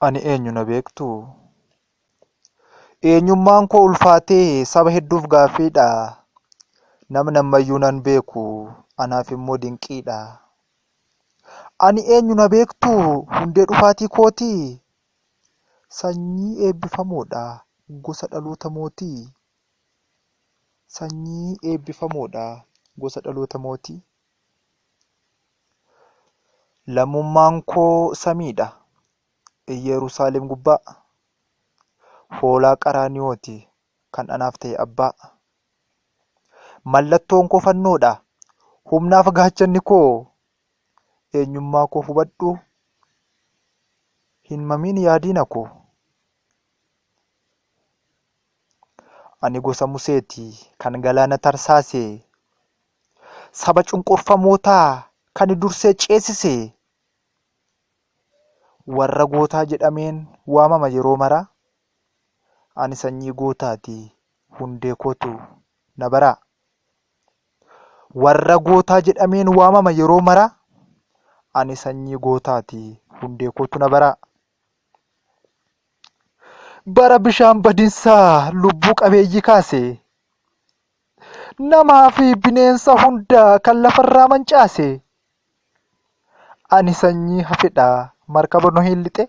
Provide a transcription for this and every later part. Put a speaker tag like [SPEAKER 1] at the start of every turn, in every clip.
[SPEAKER 1] Ani eenyu na beektuu? Eenyummaan koo ulfaatee saba hedduuf gaaffiidha. Namni ammayyuu nan beeku anaaf immoo dinqiidha. Ani eenyu na beektuu? Hundee dhufaatii kootii? Sanyii eebbifamoodha gosa dhaloota mootii. Sanyii eebbifamoodha gosa dhaloota mootii. Lammummaan koo samiidha, Iyyeruusaalem gubbaa, Hoolaa Qaraaniyooti kan anaaf ta'e abbaa. Mallattoon koo fannoodha, humnaaf gaachanni koo, Eenyummaa koo hubadhu, hin mamiin yaa diina koo. Ani gosa Museeti, kan galaana tarsaase, saba cunqurfamootaa kan dursee ceesise, warra gootaa jedhameen waamama yeroo maraa. Ani sanyii gootaati, hundee kootu na baraa. Warra gootaa jedhameen waamama yeroo maraa. Ani sanyii gootaati, hundee kootu na baraa. bara bishaan badinsaa lubbuu qabeeyyii kaase namaa fi bineensa hundaa kan lafarraa mancaase ani sanyii hafedha markaba nohiin lixe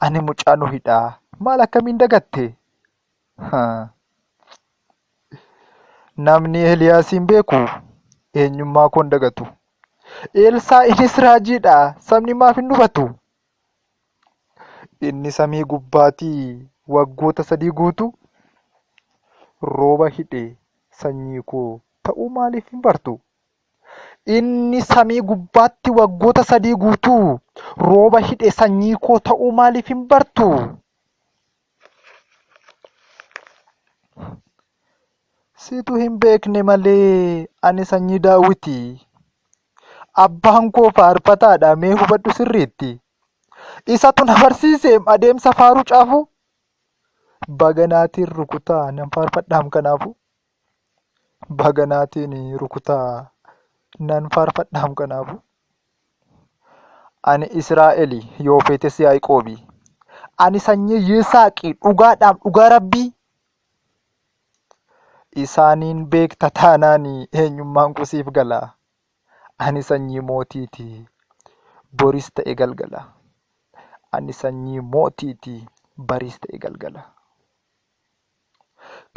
[SPEAKER 1] ani mucaa nohidha maal akkamiin dagatte Namni Eeliyaasiin beeku eenyummaa koo hin dagatu. Eelsaa'inis raajiidha. Sabni maaf hin hubatu? Inni samii gubbaatii waggoota sadii guutuu rooba hidhe sanyii koo ta'uu maaliif hin bartu? Inni samii gubbaatti waggoota sadii guutuu rooba hidhe sanyii koo ta'uu maaliif hin bartu? Situ hin beekne malee ani sanyii daawwiti. Abbaan koo faarfataadha mee hubadhu sirriitti. Isatu na barsiise adeemsa faaruu caafu. Baganaatiin rukutaa nan faarfadhaam kanaafu. Baga naatiin rukutaa nan faarfadhaam kanaafu. Ani Israa'eli yoo feetes Yaaqoobi. Ani sanyii Yisaaqi dhugaadhaam dhugaa rabbii. Isaaniin beekta taanaan eenyummaan koo siif gala. Ani sanyii mootiiti boris ta'e galgala. Ani sanyii mootiiti baris ta'e galgala.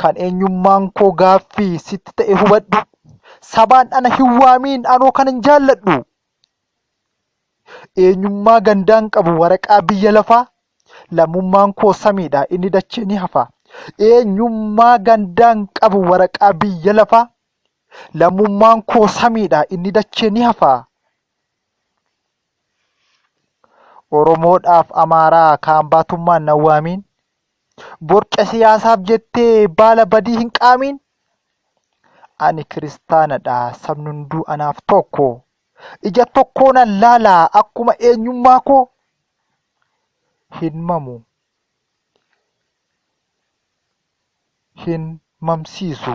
[SPEAKER 1] Kan eenyummaan koo gaaffii sitti ta'e hubadhu. Sabaan ana hin waamiin anoo kanan jaalladhu. Eenyummaa gandaan qabu waraqaa biyya lafaa. Lammummaan koo samiidha inni dachee ni hafa. Eenyummaa gandaan qabu waraqaa biyya lafaa. Lammummaan koo samiidha inni dachee ni hafa. Oromoodhaaf Amaaraa kaan baatummaan na waamiin. Borca siyaasaaf jettee baala badii hin qaamiin. Ani kiristaanadha, sabni hunduu anaaf tokko. Ija tokkoonan laala akkuma eenyummaa koo hin mamu. Hin mamsiisu.